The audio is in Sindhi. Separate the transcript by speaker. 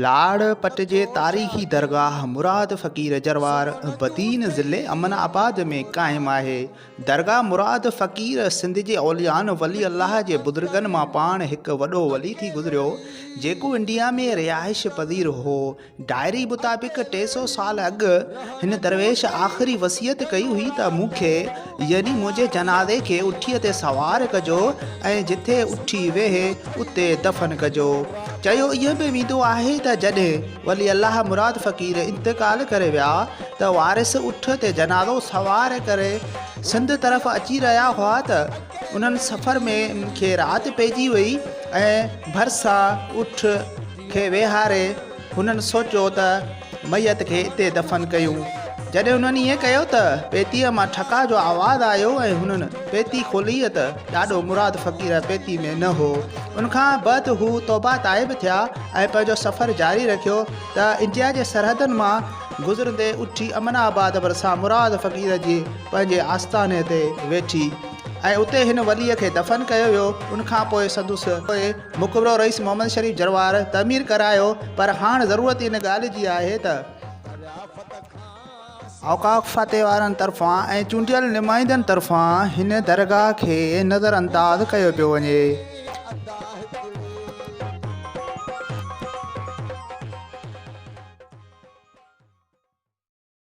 Speaker 1: لاڙ پٽ جي تاريخي درگاهه مراد فقير جروار بدين ضلعي امن آباد ۾ قائم آهي. درگاهه مراد فقير سنڌ جي اوليائن ولي الله جي بزرگن مان پاڻ هڪ وڏو ولي ٿي گذريو جيڪو انڊيا ۾ رهائش پذير هو. ڊائري مطابق ٽي سؤ سال اڳ هن درويش آخري وصيت ڪئي هئي ته مون کي يعني منهنجي جنازي کي اٺيء تي سوار ڪجو ۽ جتي اٺي ويهي اتي دفن ڪجو. چيو ائين به ويندو آهي ته جڏهن ولي الله مراد فقير انتقال ڪري ويا ته وارث اٺ تي جنازو سوار ڪري سنڌ طرف اچي رهيا هئا ته انهن سفر ۾ انهن کي رات پئجي وئي ۽ ڀرسان اٺ کي ويهاري هنن سوچيو ته ميت کي اتي دفن ڪيون. جڏهن هنن ائين ڪيو ته پيتيء مان ٺڪاء جو آواز آيو ۽ هنن پيتي کولي ته ڏاڏو مراد فقير پيتي ۾ نه هو. ان کان بعد هو توبه تائب ٿيا ۽ پنهنجو سفر جاري رکيو ته انڊيا جي سرحدن مان گذرندي اٺي امن آباد ڀرسان مراد فقير جي پنهنجي آستاني تي ويٺي ۽ اتي هن وليء کي دفن ڪيو ويو. ان کان پوء سندس مخبرو رئيس محمد شريف جروار تعمير ڪرايو پر هاڻ ضرورت ئي ان ڳالهه جي آهي ته اوقاف فاتح وارن طرفان ۽ چونڊيل نمائندن طرفان هن درگاهه کي نظر انداز ڪيو پيو وڃي.